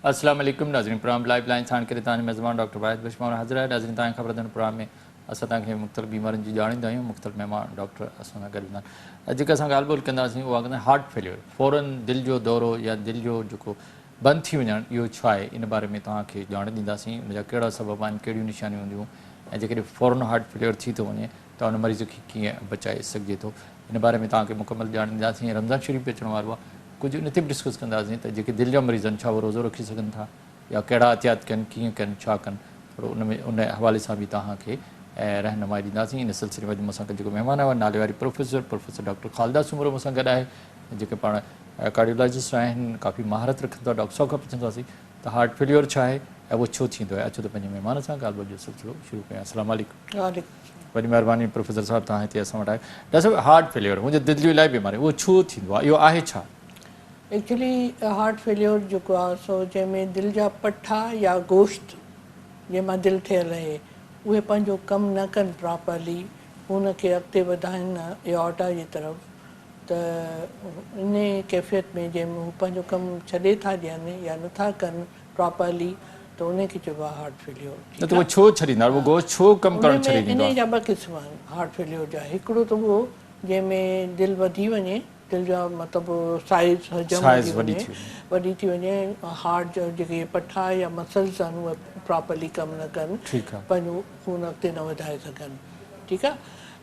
السلام عليڪم ناظرين پروگرام لائيو لائين ساڻ ڪري توهان جو ميزبان ڊاڪٽر واحد بشمور حاضر آهي ناظرين توهان کي خبر اٿن پروگرام ۾ اسان توهان کي مختلف بيمارين جي ڄاڻيندا آهيون مختلف مهمان ڊاڪٽر اسان سان گڏ هوندا آهن جيڪا اسان ڳالهه ٻولهه ڪنداسين اها ڪندا هارٽ فيليور فورن دل جو دورو يا دل جو جيڪو بند ٿي وڃڻ اهو ڇو آهي ان باري ۾ توهان کي ڄاڻ ڏينداسين ان جا ڪهڙا سبب آهن ڪهڙيون نشانيون هونديون ۽ جيڪڏهن فورن هارٽ فيليئر ٿي ٿو وڃي ته ان مريض کي ڪيئن بچائي سگهجي ٿو ان باري ۾ توهان کي مڪمل ڄاڻ ڏينداسين ۽ رمضان شريف به اچڻ وارو آهي ڪجهه ان تي به ڊسڪس ڪنداسين ته جيڪي دل جا مريض آهن ڇا اهي روزو رکي سگهن ٿا يا ڪهڙا احتياط ڪن ڪيئن ڪن ڇا ڪن ٿورو ان ۾ ان حوالي سان به توهان کي رهنمائي ڏينداسين ان سلسلي ۾ اڄ مون سان گڏ جيڪو مهمان آهي اهو ناليواري professor professor doctor Khalida Soomro مون سان گڏ آهي جيڪي پاڻ ڪارڊيولاجسٽ آهن ڪافي مهارت رکن ٿا ڊاڪٽر صاحب کان پڇنداسين ته هارٽ فيليور ڇا آهي ۽ اهو ڇو ٿيندو آهي اچو ته پنهنجي مهمان سان ڳالهه ٻولهه جو سلسلو شروع ڪيون السلام عليڪم وڏي مهرباني پروفيسر صاحب توهان هتي اسان وٽ آيو ڊاڪٽر صاحب هارٽ فيليور هونجي دل جون الائي بيماري اهو ڇو ٿيندو آهي اهو آهي ڇا ايڪچولي هارٽ فيليور جيڪو آهي سو جنهن ۾ دل جا پٺا يا گوشت جنهن مان دل ٺهيل آهي اهي پنهنجو ڪم نه ڪن پراپرلي خون کي اڳتي وڌائين نه ايئورٽا جي طرف ته انهي ڪيفيت ۾ جنهن ۾ هو پنهنجو ڪم ڇڏي ٿا ڏين يا نٿا ڪن پراپرلي ته انهي کي چئبو آهي هارٽ فيليور نه ته اهو ڇو ڇڏيندا اهو گوشت ڇو ڪم ڪرڻ ڇڏي ڏيندو آهي. انهي جا ٻه قسم آهن هارٽ فيليور جا هڪڙو ته اهو جنهن ۾ دل وڌي وڃي دل جا مطلب سائيز حجم وڌي وڃي وڏي ٿي وڃي ۽ هارٽ جا جيڪي پٺا يا مسلز آهن اهي پراپرلي ڪم نه ڪن پنهنجو خون اڳتي نه وڌائي سگهن ٺيڪ آهي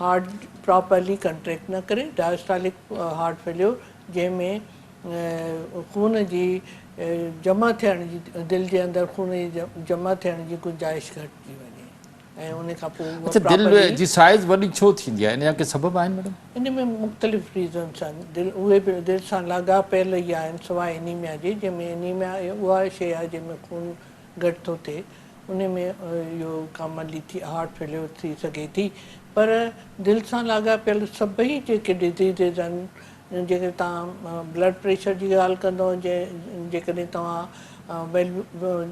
هارٽ پراپرلي ڪنٽريڪٽ نه ڪري، Diastolic Heart Failure، جنهن ۾ خون جي جمع ٿيڻ جي دل جي اندر خون جي جمع ٿيڻ جي گنجائش گهٽجي وڃي ۽ ان کان پوء اها پراپرلي. اڇا دل جي سائيز وڏي ڇو ٿيندي آهي؟ ان جا ڪي سبب آهن ميڊم؟ ان ۾ مختلف ريزنس آهن، دل اهي به دل سان لاڳاپيل ئي آهن سواء انيميا جي، جنهن ۾ انيميا اها شيء آهي جنهن ۾ خون گهٽ ٿو ٿئي انهي ۾ اهو ڪاملي ٿي هارٽ فيليور ٿي سگهي ٿي پر دل سان لاڳاپيل سڀئي جيڪي ڊزيزز آهن جيڪڏهن توهان بلڊ پريشر جي ڳالهه ڪندو جيڪڏهن توهان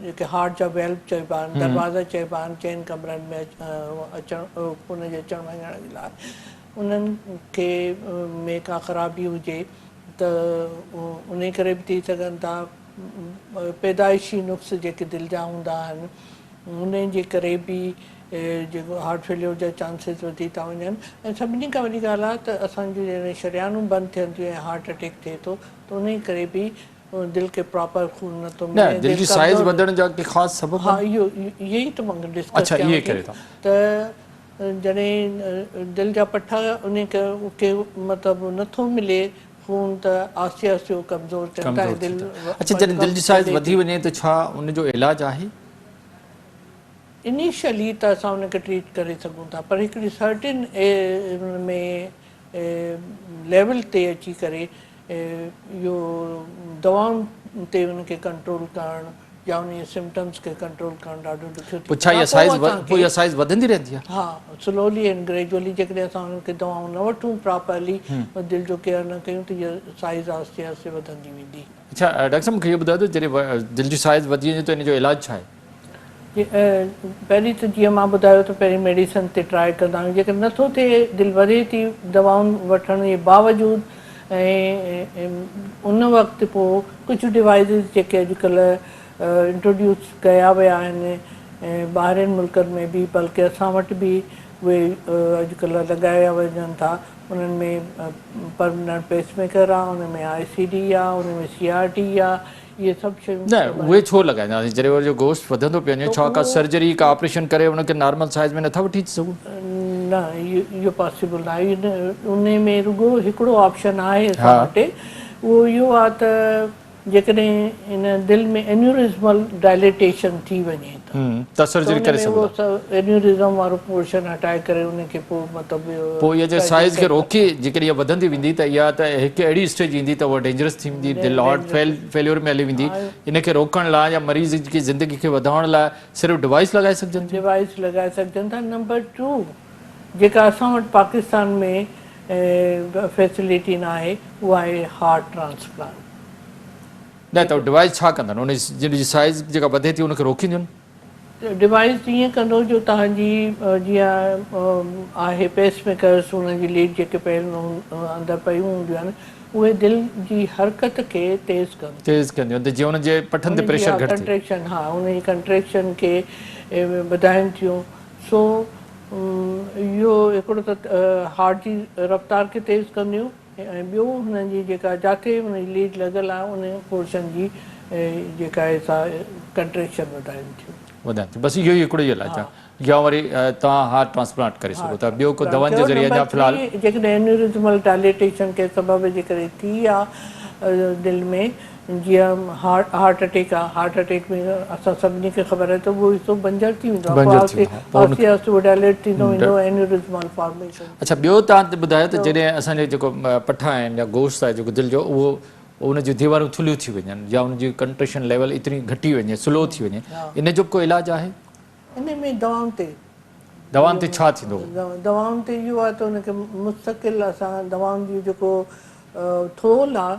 جيڪي هارٽ جا ويلو چئبا آهن دروازا چئبا آهن چئن ڪمرن ۾ اچڻ خون جي اچڻ وڃڻ جي لاء انهن کي ۾ ڪا خرابي هجي ته انهي ڪري به ٿي سگهن ٿا پيدائشي نقص جيڪي دل جا هوندا آهن انهن جي ڪري به جيڪو هارٽ فيليور جا چانسز وڌي ٿا وڃن ۽ سڀني کان وڏي ڳالهه آهي ته اسان جون جڏهن شريانون بند ٿين ٿيون ۽ هارٽ اٽيڪ ٿئي ٿو ته انهي ڪري به دل کي پراپر خون نه ٿو ملي دل جي سائيز وڌڻ جا ڪي خاص سبب ها اهو اهي ئي ته مان ڊسڪس ڪيان ٿي ته جڏهن دل جا پٺا انهي ڪري مطلب نه ٿو ملي خون ته آهستي آهستي اهو ڪمزور ٿين ٿا ۽ دل اڇا جڏهن دل جي سائيز وڌي وڃي ته ڇا ان جو علاج آهي؟ انيشلي ته اسان ان کي ٽريٽ ڪري سگهون ٿا پر هڪڙي سرٽن ان ۾ ليول تي اچي ڪري اهو دوائن تي ان کي ڪنٽرول ڪرڻ يا انهي سمپٽمز کي ڪنٽرول ڪرڻ ڏاڍو ڏکيو ٿي پوء اها سائيز پوء اها سائيز وڌندي رهندي آهي ها سلولي اينڊ گريجولي جيڪڏهن اسان انهن کي دوائون نه وٺون پراپرلي ۽ دل جو ڪيئر نه ڪيون ته اها سائيز آهستي آهستي وڌندي ويندي اڇا ڊاڪٽر صاحب مونکي اهو ٻڌايو ته جڏهن دل جي سائيز وڌي وڃي ته ان جو علاج ڇا آهي پهرين ته جيئن مان ٻڌايو ته پهرين ميڊيسن تي ٽرائي ڪندا آهيون جيڪڏهن نٿو ٿئي دل وڌي ٿي دوائون وٺڻ جي باوجود ۽ ان وقت پوء ڪجهه ڊوائيسز جيڪي اڄڪلهه انٽروڊيوس ڪيا ويا آهن ٻاهرين ملڪن ۾ به بلڪه اسان وٽ به اهي اڄڪلهه لڳايا وڃن ٿا انهن ۾ پرمننٽ پيس ميڪر آ ان ۾ آء سي ڊي آ ان ۾ سي آر ٽي آ اهي سڀ شيون نه اهي ڇو لڳائينداسين جڏهن وري جو گوشت وڌندو پيو وڃي ڇا ڪا سرجري ڪا آپريشن ڪري ان کي نارمل سائيز ۾ نٿا وٺي سگهون. نه اهو پاسيبل نه آهي ان ۾ رڳو هڪڙو آپشن آهي اسان وٽ اهو اهو آهي ته جيڪڏهن ان دل ۾ انيوريزمل ڊائليٽيشن ٿي وڃي تاثر جيئن ڪري سگهو ٿا. تون ان ۾ اهو انيوريزم وارو پورشن هٽائي ڪري ان کي پوء مطلب اهو پوء اها جي سائيز کي روڪي جيڪڏهن اها وڌندي ويندي ته اها ته هڪ اهڙي اسٽيج ايندي ته اها ڊينجرس ٿي ويندي دل هارٽ فيليور ۾ هلي ويندي ان کي روڪڻ لاء يا مريض جي زندگي کي وڌائڻ لاء صرف ڊوائيس لڳائي سگهجن ٿيون. ڊوائيس لڳائي سگهجن ٿا نمبر ٽو جيڪا اسان وٽ پاڪستان ۾ فيسليٽي ناهي اها آهي هارٽ ٽرانسپلانٽ. نه ته ڊوائيس ڇا ڪندن؟ ان جي سائيز جيڪا وڌي ٿي ان کي روڪينديون؟ ڊوائيس ائين ڪندو جو توهان جي جيئن آهي پيس ميڪرس ان جي ليڊ جيڪي پيل اندر پيون هونديون آهن اهي دل جي حرڪت کي تيز ڪن ٿيون. تيز ڪنديون ته جيئن ان جي پٺن تي پريشر گهٽ ٿئي. ڪنٽريڪشن ها ان جي ڪنٽريڪشن کي وڌائين ٿيون سو اهو هڪڙو ته هارٽ جي رفتار کي تيز ڪنديون. ۽ ٻيو هنن جي جيڪا جاکي هن جي ليڊ لڳل آهي ان پورشن جي جيڪا آهي سا ڪنٽريڪشن وڌائين ٿيون. وڌائين ٿيون بس اهو ئي هڪڙو ئي علاج آهي يا وري توهان هارٽ ٽرانسپلانٽ ڪري سگهو ٿا ٻيو ڪو دوائن جي ذريعي اڃا في الحال. جيڪڏهن انيوريزمل ڊائليٽيشن ڪنهن سبب جي ڪري ٿي آهي دل ۾. جيئن هارٽ اٽيڪ آهي هارٽ اٽيڪ ۾ اسان سڀني کي خبر آهي ته اهو حصو بنجر ٿي ويندو آهي آهستي آهستي اهو ڊائليٽ ٿيندو ويندو اينيوريز مال فارميشن اڇا ٻيو تان تي ٻڌايو ته جڏهن اسان جي جيڪو پٺا آهن يا گوشت آهي جيڪو دل جو اهو ان جون ديوارون ٿلهيون ٿي وڃن يا ان جي ڪنٽريشن ليول ايتري گهٽي وڃي سلو ٿي وڃي ان جو ڪو علاج آهي ان ۾ دوائن تي دوائن تي ڇا ٿيندو دوائن تي اهو آهي ته ان کي مستقل اسان دوائن جي جيڪو ٿول آهي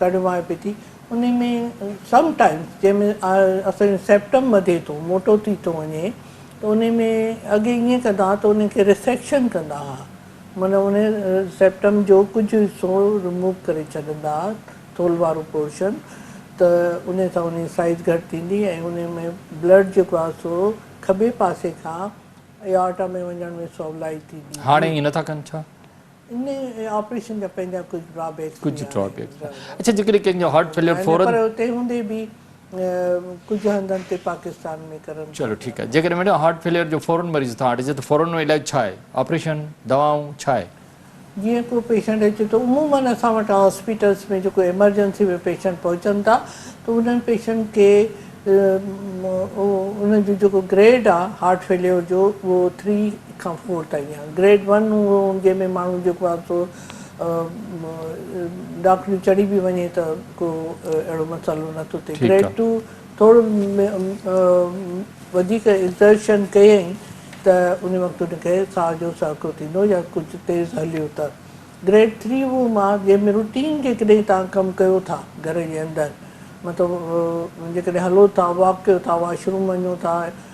ڪڍبا ۽ پتي انهي ۾ سم ٽائيمز جنهن ۾ اسان جو سيپٽم وڌي ٿو موٽو ٿي ٿو وڃي ته انهي ۾ اڳي ائين ڪندا ها ته انهي کي ريسيڪشن ڪندا ها معنيٰ انهي سيپٽم جو ڪجهه حصو رموو ڪري ڇڏندا ها ٿولهه وارو پورشن ته انهي سان انهي جي سائيز گهٽ ٿيندي ۽ انهي ۾ بلڊ جيڪو آهي سو کٻي پاسي کان ايئارٽا ۾ وڃڻ ۾ سولائي ٿيندي هئي. هاڻي ائين نه ٿا ڪن ڇا؟ ان آپريشن جا پنهنجا ڪجهه ڊرا بيڪس به آهن. ڪجهه ڊرا بيڪس آهن. اڇا جيڪڏهن ڪنهن کي هارٽ فيليئر فورن. پر تنهن هوندي به ڪجهه هنڌن تي پاڪستان ۾ ڪرن ٿا. چلو ٺيڪ آهي. جيڪڏهن ميڊم هارٽ فيليئر جو فورن مريض اتان هٽجي ته فورن ان جو علاج ڇا آهي؟ آپريشن، دوائون، ڇا آهي؟ جيئن ڪو پيشنٽ اچي ٿو عمومن اسان وٽ هاسپيٽلس ۾ جيڪو ايمرجنسي ۾ پيشنٽ پهچن ٿا ته انهن پيشنٽ کي ان جو جيڪو گريڊ آهي هارٽ فيليئر جو اهو ٿري کان فور تائين آهي گريڊ ون اهو جنهن ۾ ماڻهو جيڪو آهي سو ڊاڪڻيون چڙهي به وڃي ته ڪو اهڙو مسئلو نه ٿو ٿئي گريڊ ٽو ٿورو وڌيڪ ايگزرشن ڪيئي ته ان وقت ان کي ساهه جو سهڪو ٿيندو يا ڪجهه تيز هليو ته گريڊ ٿري اهو ماهه جنهن ۾ روٽين جيڪڏهن توهان ڪم ڪيو ٿا گهر جي اندر مطلب جيڪڏهن هلو ٿا واڪ ڪيو ٿا واش روم وڃو ٿا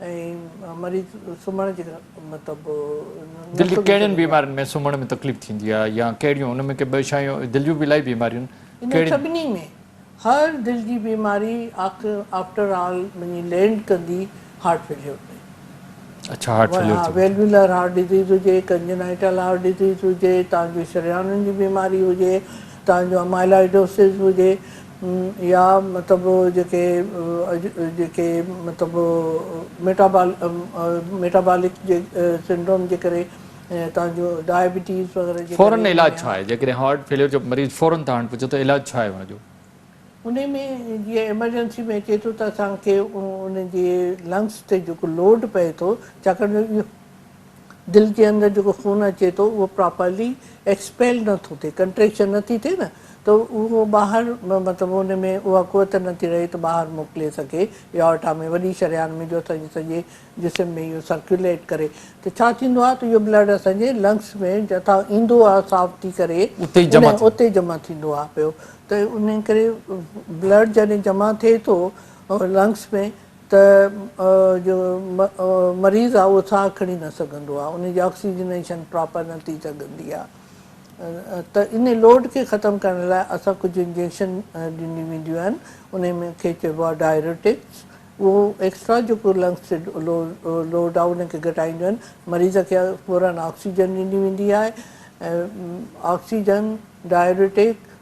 مريض سمهڻ جي مطلب دل جي ڪهڙين بيمارين ۾ سمهڻ ۾ تڪليف ٿيندي آهي يا ڪهڙيون ان ۾ ڪي ٻه شايون دل جون به الائي بيماريون انهن سڀني ۾ هر دل جي بيماري آفٽر آل وڃي لينڊ ڪندي هارٽ فيليور ۾ اڇا هارٽ فيليور ٿي ويلويلر هارٽ ڊزيز هجي ڪنجنائيٽل هارٽ ڊزيز هجي تان جو شريانن جي بيماري هجي تان جو امائلائيڊوسز هجي يا مطلب جيڪي جيڪي مطلب ميٽابال ميٽابالڪ جي سنڊروم جي ڪري تان جو ڊائبيٽيز وغيره جي فورن ڪري علاج ڇا آهي جيڪڏهن هارٽ فيليئر جو مريض فورن توهان وٽ پهچي ٿو علاج ڇا آهي ان جو. انهي ۾ جيئن ايمرجنسي ۾ اچي ٿو ته اسان کي ان جي لنگس تي جيڪو لوڊ پئي ٿو ڇاڪاڻ جو اهو. دل جي اندر جيڪو خون اچي ٿو اهو پراپرلي ايڪسپيل نه ٿو ٿئي ڪنٽريڪشن نه ٿي ٿئي نه ته اهو ٻاهر مطلب ان ۾ اها قوت نه ٿي رهي ته ٻاهر موڪلي سگهي ايورٽا ۾ وڏي شريان ۾ جو اسانجي سڄي جسم ۾ اهو سرڪيوليٽ ڪري ته ڇا ٿيندو آهي ته اهو بلڊ اسانجي لنگس ۾ جتان ايندو آهي صاف ٿي ڪري اتي جمع ٿيندو آهي پيو ته انهي ڪري بلڊ جڏهن جمع ٿئي ٿو لنگس ۾ ته جو مريض آ اهو ساهه کڻي نه سگهندو آ ان جي آڪسيجنيشن پراپر نه ٿي سگهندي آ ته ان لوڊ کي ختم ڪرڻ لاء اسان ڪجهه انجيڪشن ڏنيون وينديون آهن انهي ۾ کي چئبو آ ڊائريوٽڪس اهو ايڪسٽرا جيڪو لنگس تي لوڊ آ ان کي گهٽائينديون آهن مريض کي فورن آڪسيجن ڏني ويندي آهي آڪسيجن ڊائريوٽڪ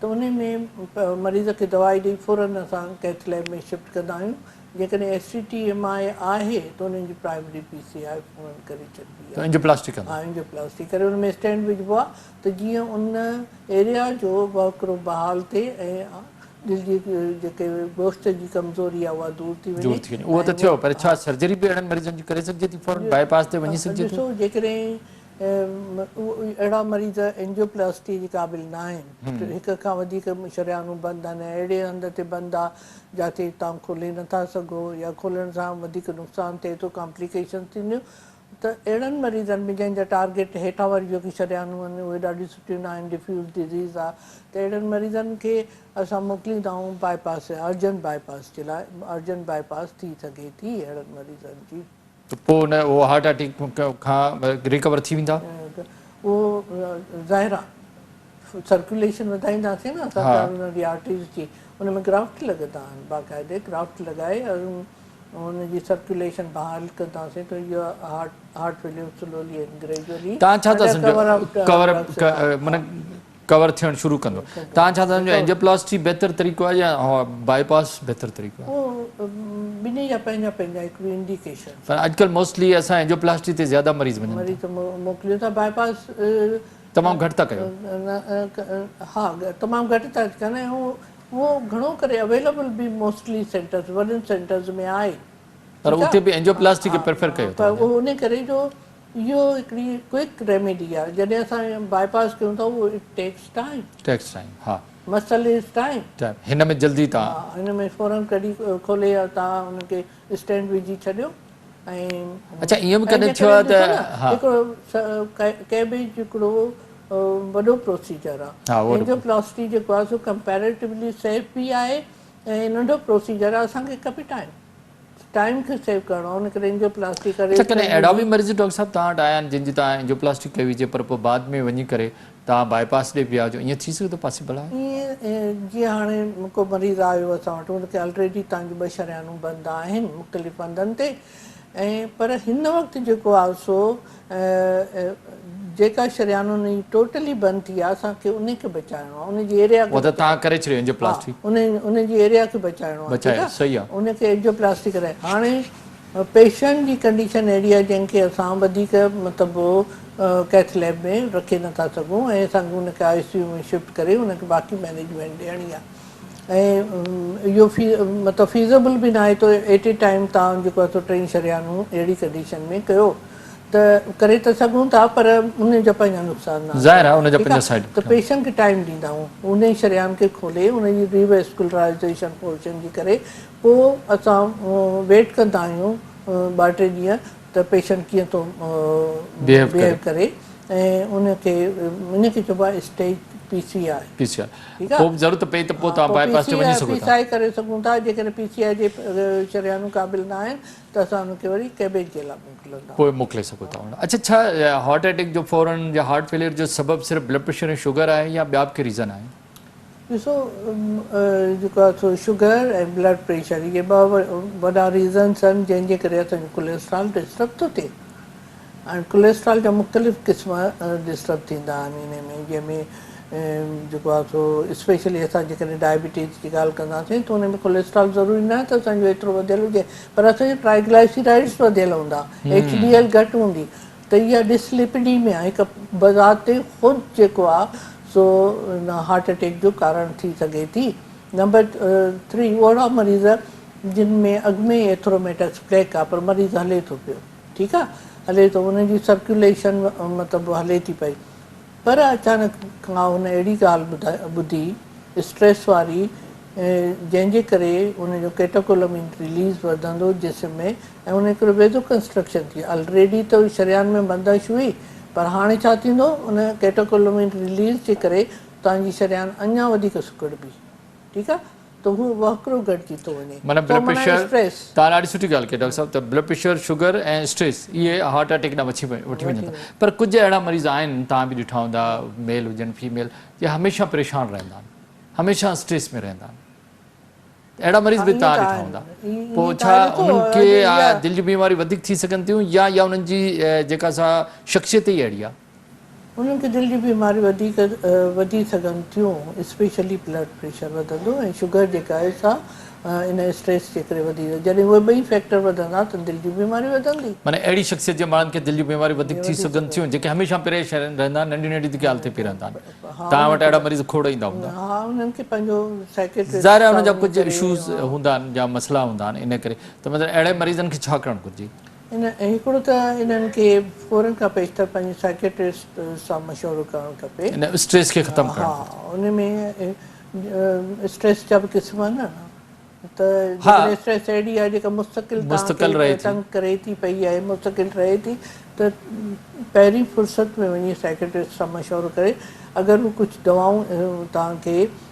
ته ان ۾ مريض کي دوائي ڏئي فورن اسان ڪيٿ ليب ۾ شفٽ ڪندا آهيون جيڪڏهن S C T M I آهي ته انهن جي پرائمري پي سي آء فورن ڪري ڇڏبي آهي اينجيوپلاسٽي ڪندا آهيون اينجيوپلاسٽي ڪري ان ۾ اسٽينٽ وجهبو آهي ته جيئن ان ايريا جو وهڪرو بحال ٿئي ۽ دل جي جيڪي گوشت جي ڪمزوري آهي اها دور ٿي وڃي اهو ته ٿيو پر ڇا سرجري به اهڙن مريضن جي ڪري سگهجي ٿي فورن باء پاس تي وڃي سگهجي ٿو ڏسو جيڪڏهن اهڙا مريض اينجيوپلاسٽي جي قابل نه آهن، هڪ کان وڌيڪ شريانون بند آهن ۽ اهڙي هنڌ تي بند آهي جاتي توهان کولي نه ٿا سگهو يا کولڻ سان وڌيڪ نقصان ٿئي ٿو، ڪامپليڪيشنز ٿينديون ته اهڙن مريضن ۾ جنهن جا ٽارگيٽ هيٺان واريون جيڪي شريانون آهن اهي ڏاڍيون سٺيون نه آهن، ڊفيوز ڊزيز آهي ته اهڙن مريضن کي اسان موڪلين ٿا آئون باء پاس يا ارجنٽ باء پاس جي لاء، ارجنٽ باء پاس ٿي سگهي ٿي اهڙن مريضن جي. ته پوء نه اهو هارٽ اٽيڪ کان ريڪور ٿي ويندا. اهو ظاهر آ سرڪيوليشن وڌائينداسين نه اسان ڪارونري جي آرٽريز جي ان ۾ گرافٽ لڳندا آهن باقاعدي گرافٽ لڳائي ان جي سرڪيوليشن بحال ڪنداسين ته اهو heart failure slowly and gradually ڪور آف ڪور آف معنيٰ ڪور ٿيڻ شروع ڪندو تان ڇا سمجهو اينجيوپلاسٽي بهتر طريقو آهي يا باء پاس بهتر طريقو آهي؟ ٻنهي جا پنهنجا پنهنجا هڪ ٻئي انڊيڪيشن. پر اڄڪلهه موسٽلي اسان اينجيوپلاسٽي تي زياده مريض وڃن ٿا. مريض ته موڪليون ٿا باء پاس. تمام گهٽ ٿا ڪيو. ها تمام گهٽ ٿا ڪن ۽ اهو گهڻو ڪري اويليبل به موسٽلي سينٽرز وڏن سينٽرز ۾ آهي. پر اتي به اينجيوپلاسٽي کي پريفر ڪيو ٿو وڃي. ان ڪري جو اهو هڪڙي ڪوئڪ ريميڊي آهي جڏهن اسان باء پاس ڪيون ٿا اهو it takes time. Takes time ها. Muscle is time. ٽائيم هن ۾ جلدي تان. ها هن ۾ فورن ڪڍي کولي يا تان ان کي اسٽينڊ وجهي ڇڏيو ۽. اچا ائين به ڪڏهن ٿيو آهي ته ها. هڪڙو ڪيبيج هڪڙو وڏو پروسيجر آهي. ها اهو. اينجيو پلاسٽي جيڪو آهي سو ڪمپيريٽولي سيف به آهي ۽ ننڍو پروسيجر آهي اسان کي کپي ٽائيم. ٽائيم کي سيو ڪرڻو ان ڪري انجيو پلاسٽي ڪري اچا ڪڏهن اهڙا به مريض ڊاڪٽر صاحب توهان وٽ آيا آهن جن جي تان انجيو پلاسٽي ڪئي هجي پر پوء بعد ۾ وڃي ڪري تان باء پاس ڏي ويا هجو ائين ٿي سگهي ٿو پاسبل آهي. ائين جيئن هاڻي ڪو مريض آيو اسان وٽ ان کي الريڊي تان جون ٻه شريانون بند آهن مختلف هنڌن تي ۽ پر هن وقت جيڪو آهي سو جيڪا شريانون هي ٽوٽلي بند ٿي آ اسان کي انهي کي بچائڻو آ انهي جي ايريا کي بچائڻو آ تهان ڪري ڇڏيو انجيوپلاسٽي ها انهي جي ايريا کي بچائڻو آ ٺيڪ آ صحيح آ انهي کي انجيوپلاسٽي ڪرائي هاڻي پيشنٽ جي ڪنڊيشن اهڙي آ جنهن کي اسان وڌيڪ مطلب ڪيٿ ليب ۾ رکي نٿا سگهون ۽ اسان کي ان کي آء سي يو ۾ شفٽ ڪري ان کي باقي مينيجمينٽ ڏيڻي آ ۽ اهو في مطلب فيزبل به ناهي ته ايٽ اي ٽائيم تان جيڪو اسو ٽئي شريانون اهڙي ڪنڊيشن ۾ ڪيو ته ڪري ته سگهون ٿا پر ان جا پنهنجا نقصان نه ظاهر آهي ان جا پنهنجا سائيڊ ته پيشنٽ کي ٽائيم ڏيندائون انهي شريان کي کولي ان جي ري ويسڪولرائيزيشن پورشن جي ڪري پو اسان ويٽ ڪندا آهيون ٻه ٽي ڏينهن ته پيشنٽ ڪيئن ٿو بيهيو ڪري ۽ ان کي ان کي چئبو آهي اسٽيج پي سي آر. ٺيڪ آ ها پوء P C I P C I ڪري سگهون ٿا جيڪڏهن پي سي آء جي شريانون قابل نه آهن ته اسان ان کي وري ڪيبيج جي لا موڪلندا. پوء موڪلي سگهو ٿا ان اڇا ڇا هارٽ اٽيڪ جو فورن يا هارٽ فيليئر جو سبب صرف بلڊ پريشر ۽ شوگر آهي يا ٻيا به ڪي ريزن آهن. ڏسو جيڪو آ سو شوگر ۽ بلڊ پريشر اهي ٻه وڏا ريزنس آهن جنهن جي ڪري اسان جو ڪوليسٽرال ڊسٽرب ٿو ٿئي. ڪوليسٽرال جا مختلف قسم ڊسٽرب ٿيندا آهن انهن ۾ جنهن ۾ جيڪو آهي سو اسپيشلي اسان جيڪڏهن ڊائبيٽيز جي ڳالهه ڪنداسين ته ان ۾ ڪوليسٽرال ضروري نه آهي ته اسان جو ايترو وڌيل هجي پر اسان جا ٽرائيگلائسيرائڊز وڌيل هوندا ايڇ ڊي ايل گهٽ هوندي ته اها ڊسليپيڊيميا هڪ بذات خود جيڪو آهي سو هارٽ اٽيڪ جو ڪارڻ ٿي سگهي ٿي نمبر ٿري اهڙا مريض جن ۾ اڳ ۾ ئي ايٿروميٽاڪس پليڪ آهي پر مريض هلي ٿو پيو. ٺيڪ آ هلي ٿو ان جي سرڪيوليشن مطلب هلي ٿي پئي پر اچانڪ ڪا هن اهڙي ڳالهه ٻڌي اسٽريس واري جنهن جي ڪري ان جو ڪيٽاڪولمين رليز وڌندو جسم ۾ ۽ ان ڪري ويزو ڪنسٽرڪشن ٿي الريڊي ته شريان ۾ بندش هئي پر هاڻي ڇا ٿيندو ان ڪيٽاڪولمين رليز جي ڪري توهان جي شريان اڃان وڌيڪ سڪڙبي ٺيڪ آ. ته هو وهڪرو گهٽجي ٿو وڃي. معنيٰ بلڊ پريشر، توهان ڏاڍي سٺي ڳالهه ڪئي ڊاڪٽر صاحب ته بلڊ پريشر، شگر ۽ اسٽريس اهي هارٽ اٽيڪ ڏانهن وٺي وڃن ٿا پر ڪجهه اهڙا مريض آهن توهان به ڏٺا هوندا ميل هجن فيميل جي هميشه پريشان رهندا آهن هميشه اسٽريس ۾ رهندا آهن اهڙا مريض به توهان ڏٺا هوندا پوء ڇا انهن کي دل جون بيماريون وڌيڪ ٿي سگهن ٿيون يا يا انهن جي جيڪا سا شخصيت ئي اهڙي آهي. انهن کي دل جون بيماريون وڌيڪ وڌي سگهن ٿيون اسپيشلي بلڊ پريشر وڌندو ۽ شگر جيڪا آهي سا ان اسٽريس جي ڪري وڌي ويندي جڏهن اهي ٻئي فيڪٽر وڌندا ته دل جون بيماريون وڌندي. معني اهڙي شخصيت جي ماڻهن کي دل جون بيماريون وڌيڪ ٿي سگهن ٿيون جيڪي هميشه پري شرن رهندا آهن ننڍي ننڍي ڌڪي حالتي پي رهندا آهن توهان وٽ اهڙا مريض کوڙ ايندا هوندا. ها انهن کي پنهنجو سائيڪيٽرسٽ ظاهر آهي انهن جا ڪجهه اشوز هوندا آهن جا مسئلا هوندا آهن ان ڪري ته مطلب اهڙي مريضن کي ڇا ڪرڻ گهرجي. ان هڪڙو ته انهن کي فورن کان پيشتر پنهنجي سائيڪيٽرسٽ سان مشورو ڪرڻ کپي. ان اسٽريس کي ختم ڪرڻ کپي. ها ان ۾ اسٽريس جا به قسم آهن نه ته جيڪڏهن اسٽريس اهڙي آهي جيڪا مستقل توهان کي تنگ ڪري ٿي پئي يا مستقل رهي ٿي ته پهرين فرصت ۾ وڃي سائيڪيٽرسٽ سان مشورو ڪري اگر به ڪجهه دوائون توهان کي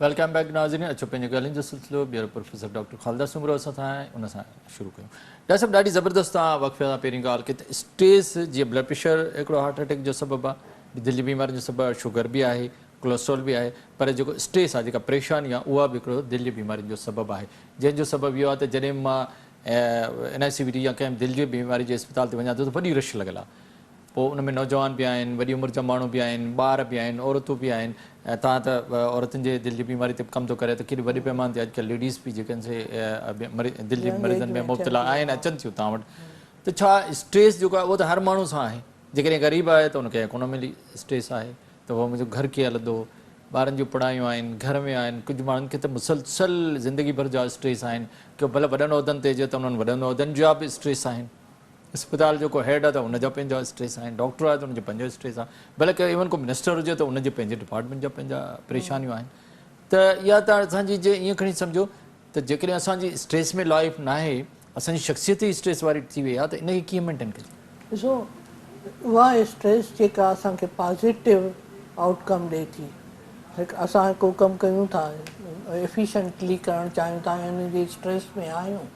ويلڪم بيڪ ناظرين اچو پنهنجي ڳالهين جو سلسلو ٻيهر پروفيسر ڊاڪٽر خالده سومرو اسان سان آهي ان سان شروع ڪيون ڊاڪٽر صاحب ڏاڍي زبردست تان وقفي سان پهرين ڳالهه ڪي ته اسٽريس جي بلڊ پريشر هڪڙو هارٽ اٽيڪ جو سبب آهي دل جي بيمارين جو سبب شوگر به آهي ڪولسٽرول به آهي پر جيڪو اسٽريس آهي جيڪا پريشاني آهي اها به هڪڙو دل جي بيمارين جو سبب آهي جنهن جو سبب اهو آهي ته جڏهن به مان N I C V T يا ڪنهن به دل جي بيماري جي اسپتال تي وڃان ٿو ته وڏي رش لڳل آهي پوء ان ۾ نوجوان به آهن وڏي عمر جا ماڻهو به آهن ٻار به آهن عورتون به آهن توهان ته عورتن جي دل جي بيماري تي به ڪم ٿو ڪريو ته ڪيڏي وڏي پيماني تي اڄڪلهه ليڊيز به جيڪي دل جي مريضن ۾ مبتلا آهن اچن ٿيون توهان وٽ ته ڇا اسٽريس جيڪو آهي اهو ته هر ماڻهو سان آهي جيڪڏهن غريب آهي ته ان کي ڪونه ملي اسٽريس آهي ته اهو منهنجو گهر ڪيئن هلندو، ٻارن جون پڙهايون آهن، گهر ۾ آهن، ڪجهه ماڻهن کي ته مسلسل زندگي ڀر جا اسٽريس آهن، ڪو ڀلا وڏن عهدن تي هجي ته انهن وڏن عهدن جا به اسٽريس آهن، اسپتال جو ڪو هيڊ آهي ته ان جا پنهنجا اسٽريس آهن، ڊاڪٽر آهي ته ان جو پنهنجو اسٽريس آهي، ڀلا ڪو ايون ڪو منسٽر هجي ته ان جي پنهنجي ڊپارٽمينٽ جا پنهنجا پريشانيون آهن ته اها ته اسان جي جي ائين کڻي سمجهو ته جيڪڏهن اسان جي اسٽريس ۾ لائف ناهي اسان جي شخصيت ئي اسٽريس واري ٿي وئي آهي ته ان کي ڪيئن مينٽين ڪجي. ڏسو اها اسٽريس جيڪا اسان کي پازيٽو آئوٽ ڪم ڏئي ٿي هڪ اسان ڪو ڪم ڪيون ٿا ايفيشنٽلي ڪرڻ چاهيون ٿا ۽ ان جي اسٽريس ۾ آهيون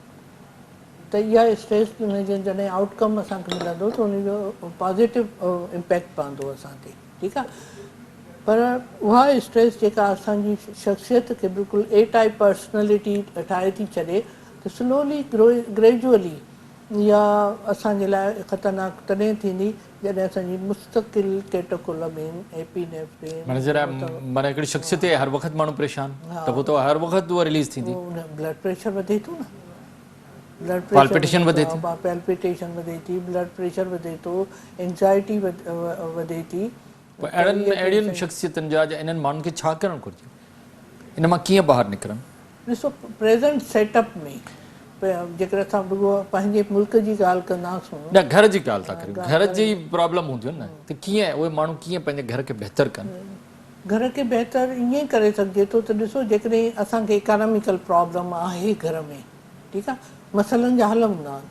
ته اها اسٽريس ان جي جڏهن آئوٽ ڪم اسان کي ملندو ته ان جو پازيٽو امپيڪٽ پوندو اسان تي. ٺيڪ آ پر اها اسٽريس جيڪا اسان جي شخصيت کي بلڪل اي ٽائيپ پرسنلٽي ٺاهي ٿي ڇڏي ته سلولي گريجولي اها اسان جي لاء خطرناڪ تڏهن ٿيندي جڏهن اسان جي مستقل ڪيٽوڪولامين ايپي نيفرين معنيٰ ذرا معنيٰ هڪڙي شخصيت هي هر وقت ماڻهو پريشان ته پوء ته هر وقت اها رليز ٿيندي. بلڊ پريشر وڌي ٿو نه بلڊ پريشر وڌي ٿو Palpitation وڌي ٿي بلڊ پريشر وڌي ٿو Anxiety وڌي ٿي پوء اهڙن اهڙين شخصيتن جا جا انهن ماڻهن کي ڇا ڪرڻ گهرجي؟ ان مان ڪيئن ٻاهر نڪرن؟ ڏسو پريزنٽ سيٽ اپ ۾ جيڪڏهن اسان رڳو پنهنجي ملڪ جي ڳالهه ڪنداسون. نه گهر جي ڳالهه ٿا ڪريون گهر جي پرابلم هونديون نه ته ڪيئن اهي ماڻهو ڪيئن پنهنجي گهر کي بهتر ڪن. گهر کي بهتر ائين ڪري سگهجي ٿو ته ڏسو جيڪڏهن اسان کي اڪاناميڪل پرابلم آهي گهر ۾ ٺيڪ آهي مسئلن جا حل هوندا آهن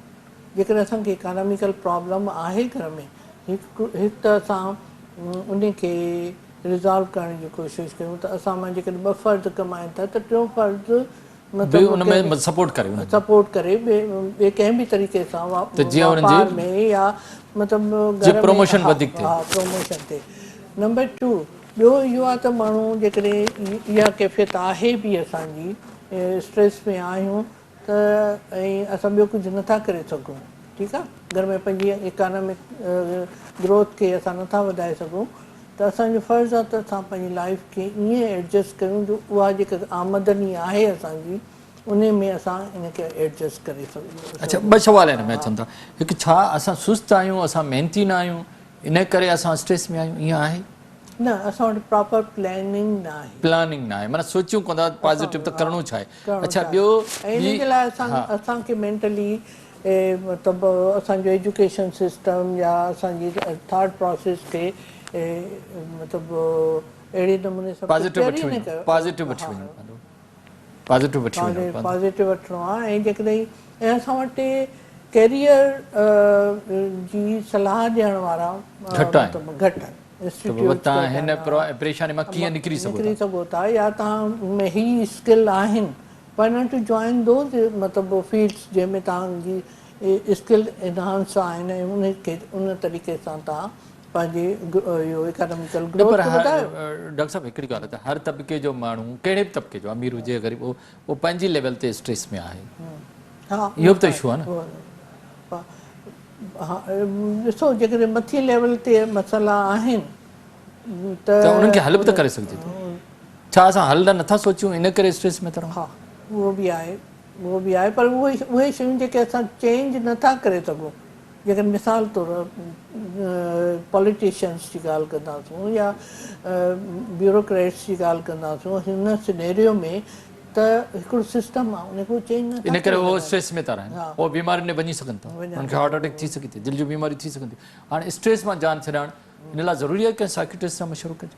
جيڪڏهن اسان کي اڪاناميڪل پرابلم آهي گهر ۾ هڪ ته اسان ان کي ريزالو ڪرڻ جي ڪوشش ڪيون ته اسان مان جيڪڏهن ٻه فرد ڪمائين ٿا ته ٽيون فرد به ان ۾ سپورٽ ڪري انهن جي سپورٽ ڪري ٻئي ڪنهن به طريقي سان واپار ۾ يا مطلب جي پروموشن وڌيڪ ٿئي پروموشن ٿئي نمبر ٽو ٻيو اهو آهي ته ماڻهو جيڪڏهن اها ڪيفيت آهي به اسان جي اسٽريس ۾ آهيون ته ۽ اسان ٻيو ڪجهه نٿا ڪري سگهون ٺيڪ آ اگر ۾ پنهنجي اڪانامڪ گروٿ کي اسان نٿا وڌائي سگهون ته اسان جو فرض آ ته اسان پنهنجي لائيف کي ائين ايڊجسٽ ڪريون جو اها جيڪا آمدن ئي آهي اسان جي انهي ۾ اسان ان کي ايڊجسٽ ڪري سگهون. اڇا ٻه سوال هن ۾ اچن ٿا هڪ ڇا اسان سست آهيون اسان محنتي نه آهيون انهي ڪري اسان اسٽريس ۾ آهيون ائين آهي؟ نه اسان وٽ پراپر پلاننگ نه آهي. پلاننگ نه آهي معنيٰ سوچيون ڪونه ٿا پازيٽو ته ڪرڻو ڇا آهي اڇا ٻيو هي ۽ ان جي لاء اسان کي مينٽلي اهي مطلب اسان جو ايجوڪيشن سسٽم يا اسان جي ٿاٽ پراسيس کي مطلب اهڙي نموني سان پريپيئر ئي نه ڪيو پازيٽو وٺڻو آهي ۽ جيڪڏهن ۽ اسان وٽ ڪيريئر جي صلاح ڏيڻ وارا مطلب گهٽ آهن انسٽيٽيوٽس تهان نڪري سگهو ٿا يا تهان ۾ هي اسڪل آهن Why not to join those مطلب فيلڊس جنهن ۾ توهان جي اسڪل انهانس آهن ۽ ان کي ان طريقي سان توهان پنهنجي اهو اڪاناميڪل گروٿ کي وڌايو. ڊاڪٽر صاحب هڪڙي ڳالهه ته هر طبقي جو ماڻهو ڪهڙي به طبقي جو امير هجي يا غريب اهو پنهنجي ليول تي اسٽريس ۾ آهي اهو به ته اشو آهي نه. ها ڏسو جيڪڏهن مٿين ليول تي مسئلا آهن ته. ته انهن کي حل به ته ڪري سگهجي ٿو. ڇا اسان حل لاء نٿا سوچيون ان ڪري اسٽريس ۾ ٿا رهون. ها اهو به آهي اهو به آهي پر اهي اهي شيون جيڪي اسان چينج نٿا ڪري سگهون جيڪڏهن مثال طور پوليٽيشنس جي ڳالهه ڪنداسون يا بيوروڪريٽس جي ڳالهه ڪنداسون هن سنيريو ۾ ته هڪڙو سسٽم آهي ان کي اهي چينج نٿا ڪري سگهن ان ڪري اهي اسٽريس ۾ ٿا رهن اهي بيمارين ۾ وڃي سگهن ٿا انهن کي هارٽ اٽيڪ ٿي سگهي ٿي دل جون بيماريون ٿي سگهن ٿيون هاڻي اسٽريس مان جان ڇڏائڻ ان لاء ضروري آهي ڪنهن سائڪيٽرسٽ سان مشورو ڪجي.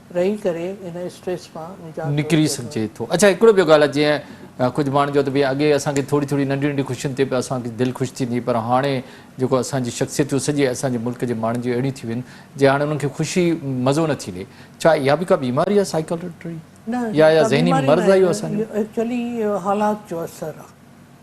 رهي ڪري ان اسٽريس مان نجات نڪري سگهجي ٿو. اڇا هڪڙو ٻيو ڳالهه جي ڪجهه ماڻهن جو ته ڀي اڳي اسان کي ٿوري ٿوري ننڍي ننڍي خوشين تي به اسان کي دل خوش ٿيندي هئي پر هاڻي جيڪو اسان جي شخصيتون سڄي اسان جي ملڪ جي ماڻهن جون اهڙيون ٿي ويون جي هاڻي انهن کي خوشي مزو نه ٿي لهي ڇا اها به ڪا بيماري آهي سائيڪالٽري يا يا ذهني مرض آهي اهو اسان جو ايڪچولي حالات جو اثر آهي.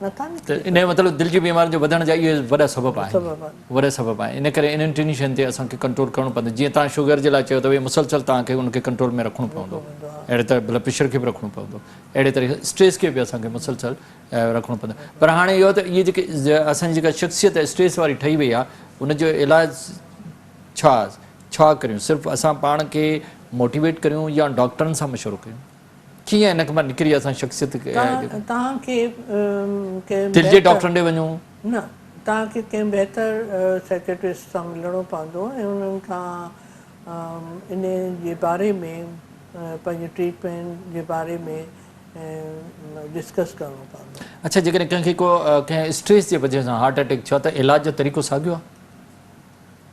ته ان جو مطلب دل جي بيمارين جو وڌڻ جا اهي وڏا سبب آهن وڏا سبب آهن ان ڪري انهن ٽنهي شين تي اسان کي ڪنٽرول ڪرڻو پوندو جيئن توهان شگر جي لاء چيو اٿو مسلسل توهان کي ان کي ڪنٽرول ۾ رکڻو پوندو اهڙي طرح بلڊ پريشر کي به رکڻو پوندو اهڙي طرح اسٽريس کي به اسان کي مسلسل رکڻو پوندو پر هاڻي اهو ته اهي جيڪي اسان جي جيڪا شخصيت اسٽريس واري ٺهي وئي آهي ان جو علاج ڇا ڇا ڪريون صرف اسان پاڻ کي موٽيويٽ ڪريون يا ڊاڪٽرن سان مشورو ڪريون ڪيئن ان کان نڪري اسان شخصيت توهان کي ڪنهن دل جي ڊاڪٽرن ڏي وڃو. نه توهان کي ڪنهن بهتر سيڪريٽرسٽ سان ملڻو پوندو ۽ انهن کان انهي جي باري ۾ پنهنجي ٽريٽمينٽ جي باري ۾ ڊسڪس ڪرڻو پوندو. اڇا جيڪڏهن ڪنهن کي ڪو ڪنهن اسٽريس جي وجهه سان هارٽ اٽيڪ ٿيو آهي ته علاج جو طريقو ساڳيو آهي؟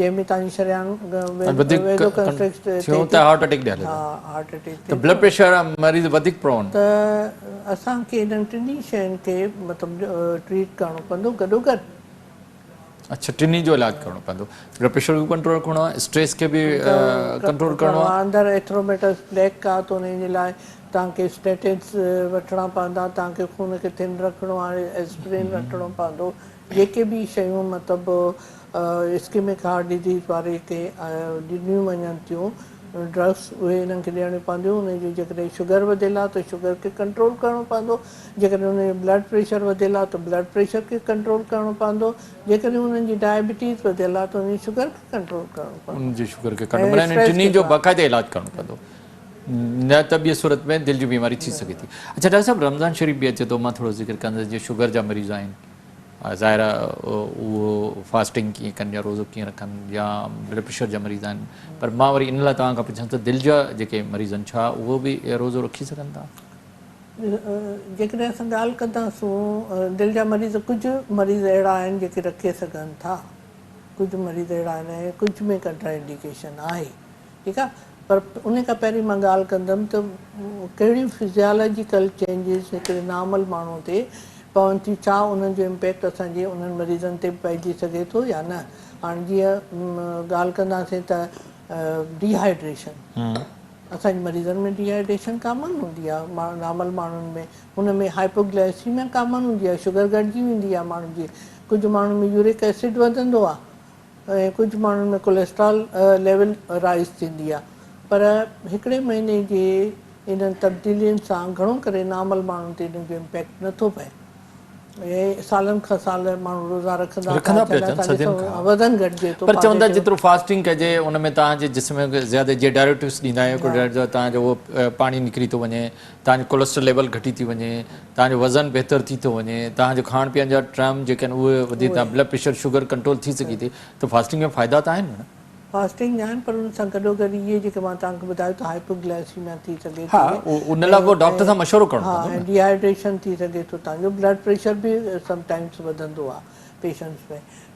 جنهن ۾ توهان جي شريان ويزو ڪنسٽرڪٽ ٿيو ته هارٽ اٽيڪ ڏياري ٿو هارٽ اٽيڪ ته بلڊ پريشر مريض وڌيڪ پرون ته اسان کي انهن ٽنهي شين کي مطلب ٽريٽ ڪرڻو پوندو گڏو گڏ اڇا ٽنهي جو علاج ڪرڻو پوندو بلڊ پريشر به ڪنٽرول رکڻو آهي اسٽريس کي به ڪنٽرول ڪرڻو آهي اندر ايٿروميٽس پليڪ آهي ته انهي جي لاء توهان کي اسٽيٽنس وٺڻا پوندا توهان کي خون کي ٿن رکڻو آهي اسپرين وٺڻو پوندو جيڪي به شيون مطلب اسڪيمڪ هارٽ ڊزيز واري کي ڏنيون وڃن ٿيون ڊرگس اهي انهن کي ڏيڻيون پونديون انهن جي جيڪڏهن شگر وڌيل آهي ته شگر کي ڪنٽرول ڪرڻو پوندو جيڪڏهن انهن جو بلڊ پريشر وڌيل آهي ته بلڊ پريشر کي ڪنٽرول ڪرڻو پوندو جيڪڏهن انهن جي ڊائبيٽيز وڌيل آهي ته انهن جي شگر کي ڪنٽرول ڪرڻو پوندو انهن جي شگر کي ڪنٽرول ۽ انهن ٽنهي جو باقاعده علاج ڪرڻو پوندو نه ته ٻي صورت ۾ دل جي بيماري ٿي سگهي ٿي اڇا ڊاڪٽر صاحب رمضان شريف به اچي ٿو مان ٿورو ذڪر ڪندس جي شگر جا مريض آهن ظاهر آهي اهو فاسٽنگ ڪيئن ڪن يا روزو ڪيئن رکن يا بلڊ پريشر جا مريض آهن پر مان وري ان لاء توهان کان پڇان ته دل جا جيڪي مريض آهن ڇا اهو به روزو رکي سگهن ٿا؟ جيڪڏهن اسان ڳالهه ڪنداسون دل جا مريض ڪجهه مريض اهڙا آهن جيڪي رکي سگهن ٿا ڪجهه مريض اهڙا آهن ۽ ڪجهه ۾ ڪنٽرا انڊيڪيشن آهي. ٺيڪ آ پر ان کان پهرين مان ڳالهه ڪندم ته ڪهڙيون فزيالاجيڪل چينجز هڪڙي نارمل ماڻهو تي پون ٿيون ڇا انهن جو امپيڪٽ اسان جي انهن مريضن تي به پئجي سگهي ٿو يا نه هاڻ جيئن ڳالهه ڪنداسين ته ڊي هائيڊريشن اسان جي مريضن ۾ ڊي هائيڊريشن ڪامن هوندي آ نارمل ماڻهن ۾ ان ۾ هائپوگلائسيميا ڪامن هوندي آ شگر گهٽجي ويندي آ ماڻهن جي ڪجهه ماڻهن ۾ يورڪ ايسڊ وڌندو آ ۽ ڪجهه ماڻهن ۾ ڪوليسٽرال ليول رائيز ٿيندي آهي پر هڪڙي مهيني جي انهن تبديلين سان گهڻو ڪري نارمل ماڻهن تي انهن جو امپيڪٽ نه ٿو پئي ۽ سالن کان سال ماڻهو روزا رکندا ٿا اچن ۽ تان ڏسو وزن گهٽجي ٿو پر چون ٿا جيترو فاسٽنگ ڪجي ان ۾ تهان جي جسم کي زياده جي ڊائريوٽڪس ڏيندا آهيون ڪولڊرائيڊز تهان جو اهو پاڻي نڪري ٿو وڃي توهان جو ڪولسٽر ليول گهٽي ٿي وڃي، توهان جو وزن بهتر ٿي ٿو وڃي، توهان جو کاڻ پيئڻ جا ٽرم جيڪي آهن اهي وڌي توهان بلڊ پريشر شگر ڪنٽرول ٿي سگهي ٿي ته فاسٽنگ جا فائدا ته آهن ڀيڻ. فاسٽنگ آهن پر ان سان گڏو گڏ اهي جيڪي مان توهان کي ٻڌايو ته هائپو گلائسيميا ٿي سگهي ٿي ان لاء پوء ڊاڪٽر سان مشورو ڪرڻو پوندو ها ۽ ڊي هائيڊريشن ٿي سگهي ٿو توهان جو بلڊ پريشر به سم ٽائمز وڌندو آهي پيشنٽس ۾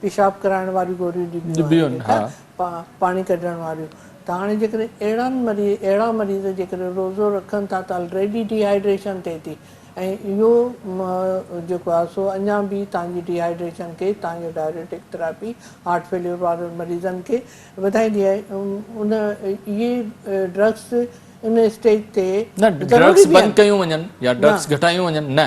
پيشاب ڪرائڻ واريون گوريون ڏبيون آهن ڏبيون ها. ٺا پاڻي ڪڍڻ واريون ته هاڻي جيڪڏهن اهڙن مري اهڙا مريض جيڪڏهن روزو رکن ٿا ته الريڊي ڊي هائيڊريشن ٿئي ٿي ۽ اهو م جيڪو آهي سو اڃان به تان جي ڊي هائيڊريشن کي تان جو ڊائريوٽڪ ٿراپي هارٽ فيليور وارن مريضن کي وڌائيندي آهي ان اهي ڊرگس ان اسٽيج تي نه ڊرگس ضروري به بند آهن ڪيون وڃن يا ڊرگس نه. گهٽايون وڃن نه.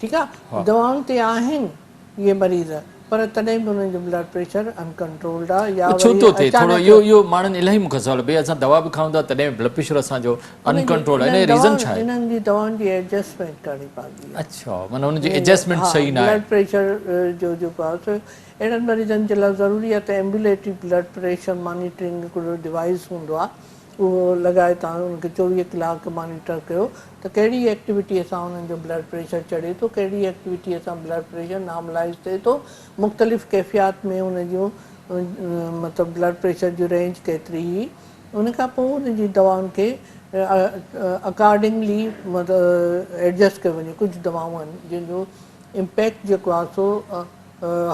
ٺيڪ آ دوائن تي آهن اهي مريض پر تڏهن به انهن جو بلڊ پريشر ان ڪنٽرولڊ آ يا وري اچانڪ اهو اهو ماڻهن الائي مون کان سوال ڀئي اسان دوا به کائون ٿا تڏهن به بلڊ پريشر اسان جو ان ڪنٽرولڊ آ ان جو ريزن ڇا آهي انهن جي دوائن جي ايڊجسٽمينٽ ڪرڻي پوندي آ اڇا معنيٰ ان جي ايڊجسٽمينٽ صحيح نه آهي بلڊ پريشر جو جو باس اهڙن مريضن جي لاء ضروري آ ته ايمبوليٽري بلڊ پريشر مانيٽرنگ هڪڙو ڊوائيس هوندو آ اهو لڳائي تان ان کي چوويهه ڪلاڪ مانيٽر ڪيو ته ڪهڙي ايڪٽيوٽيء سان انهن جو بلڊ پريشر چڙهي ٿو، ڪهڙي ايڪٽيوٽيء سان بلڊ پريشر نارملائيز ٿئي ٿو، مختلف ڪيفيات ۾ ان جون مطلب بلڊ پريشر جون رينج ڪيتري هي، ان کان پوء ان جي دوائن کي اڪارڊنگلي ايڊجسٽ ڪيو وڃي، ڪجهه دوائون آهن جن جو امپيڪٽ جيڪو آهي سو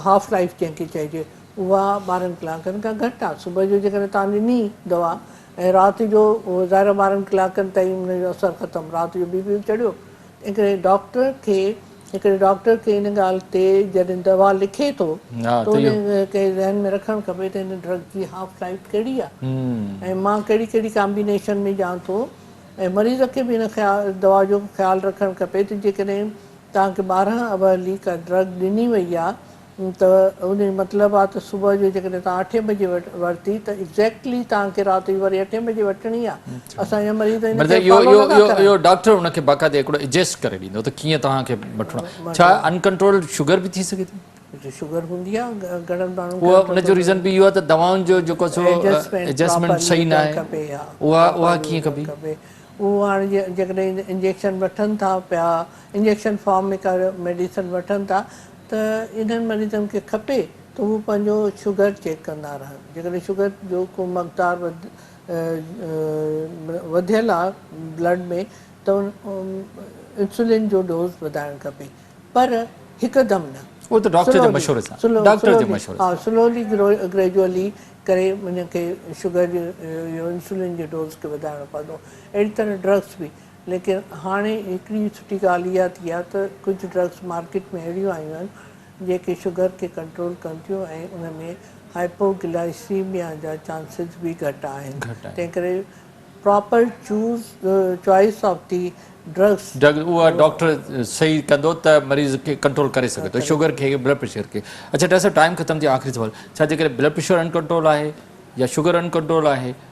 هاف لائيف جنهن کي چئجي اها ٻارهن ڪلاڪن کان گهٽ آهي، صبح جو جيڪڏهن توهان ڏني دوا ۽ رات جو ظاهر ٻارهن ڪلاڪن تائين ان جو اثر ختم رات جو بي پي چڙهيو هڪڙي ڊاڪٽر کي هڪڙي ڊاڪٽر کي ان ڳالهه تي جڏهن دوا لکي ٿو ته ان کي ذهن ۾ رکڻ کپي ته هن ڊرگ جي هاف لائف ڪهڙي آهي ۽ مان ڪهڙي ڪهڙي ڪامبينيشن ۾ ڏيان ٿو ۽ مريض کي به ان دوا جو خيال رکڻ کپي ته جيڪڏهن توهان کي ٻارهن اورلي ڪا ڊرگ ڏني وئي آهي ته ان جو مطلب آ ته صبح جو جيڪڏهن توهان اٺين بجي ورتي ته ايگزيڪٽلي توهان کي رات جي وري اٺين بجي وٺڻي آ اسان جا مريض ان کي فالو نه ٿا ڪرن. اهو ڊاڪٽر ان کي باقاعدي هڪڙو ايجسٽ ڪري ڏيندو ته ڪيئن توهان کي وٺڻو آ ڇا ان ڪنٽرولڊ شگر به ٿي سگهي ٿي؟ شگر هوندي آ گهڻن ماڻهن کي. ان جو ريزن به اهو آ ته دوائن جو جيڪو سو ايجسٽمينٽ صحيح نه آهي اها ڪيئن ڪبي؟ اهو هاڻ جيڪڏهن انجيڪشن وٺن ٿا پيا انجيڪشن فارم ۾ ڪا ميڊيسن وٺن ٿا ته انهن مريضن کي کپي ته هو پنهنجو شگر چيڪ ڪندا رهن جيڪڏهن شگر جو ڪو مقدار وڌيل آ بلڊ ۾ ته انسولين جو ڊوز وڌائڻ کپي پر هڪدم نه اهو ته ڊاڪٽر جي مشوري سان ڊاڪٽر جي مشوري سان ها سلولي گريجولي ڪري ان کي شگر جو انسولين جي ڊوز کي وڌائڻو پوندو اهڙي طرح ڊرگس به. ليڪن هاڻي هڪڙي سٺي ڳالهه اها ٿي آهي ته ڪجهه ڊرگس مارڪيٽ ۾ اهڙيون آيون آهن جيڪي شگر کي ڪنٽرول ڪن ٿيون ۽ ان ۾ هائپوگلائيسيميا جا چانسز به گهٽ آهن تنهنڪري proper choose choice of the drugs drugs اها ڊاڪٽر صحيح ڪندو ته مريض کي ڪنٽرول ڪري سگهي ٿو شگر کي بلڊ پريشر کي اڇا ڊاڪٽر صاحب ٽائيم ختم ٿي ويو آخري سوال ڇا جيڪڏهن بلڊ پريشر ان ڪنٽرول آهي يا شگر ان ڪنٽرول آهي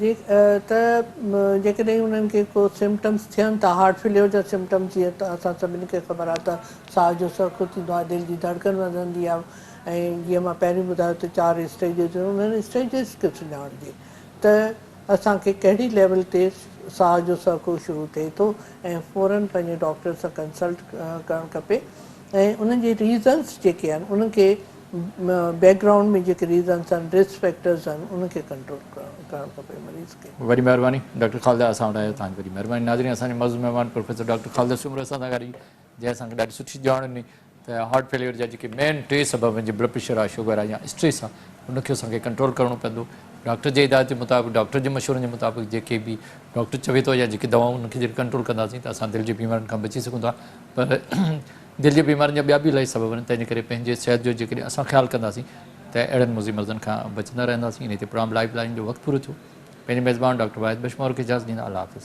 ته جيڪڏهن انهن کي ڪو سمپٽمز ٿين ٿا هارٽ فيليور جا سمپٽمز جيئن ته اسان سڀني کي خبر آهي ته ساهه جو سرخو ٿيندو آهي دل جي ڌڙڪن وڌندي آهي ۽ جيئن مان پهرين ٻڌايو ته چار اسٽيجز هونديون آهن انهن اسٽيجز کي سڃاڻجي ته اسان کي ڪهڙي ليول تي ساهه جو سرخو شروع ٿئي ٿو ۽ فورن پنهنجي ڊاڪٽر سان ڪنسلٽ ڪرڻ کپي ۽ ان جي ريزنس جيڪي آهن انهن کي بيڪ گرائونڊ ۾ جيڪي ريزنس آهن رسڪ فيڪٽرز آهن انهن کي ڪنٽرول ڪرڻ کپي مريض کي. وڏي مهرباني ڊاڪٽر خالده اسان وٽ آيو توهان جي وڏي مهرباني ناظرين اسان جي معزز مهمان پروفيسر ڊاڪٽر خالده سومرو اسان سان ڳالهائي جنهن اسان کي ڏاڍي سٺي ڄاڻ ڏني ته هارٽ فيليئر جا جيڪي مين ٽي سبب آهن جي بلڊ پريشر آهي شگر آهي يا اسٽريس آهي ان کي اسان کي ڪنٽرول ڪرڻو پوندو ڊاڪٽر جي هدايت جي مطابق ڊاڪٽر جي مشورن جي مطابق جيڪي به ڊاڪٽر چوي ٿو يا جيڪي دوائون انهن کي جڏهن ڪنٽرول ڪنداسين ته اسان دل جي بيمارين کان بچي سگهون ٿا پر دل جي بيمارين جا ٻيا به الائي سبب آهن، تنهن جي ڪري پنهنجي صحت جو جيڪڏهن اسان خيال ڪنداسين ته اهڙن مضي مرضن کان بچندا رهنداسين. انهيء تي پروگرام لائيف لائين جو وقت پورو ٿيو. پنهنجي ميزبان ڊاڪٽر واحد بشمور کي اجازت ڏيندا. الله حافظ.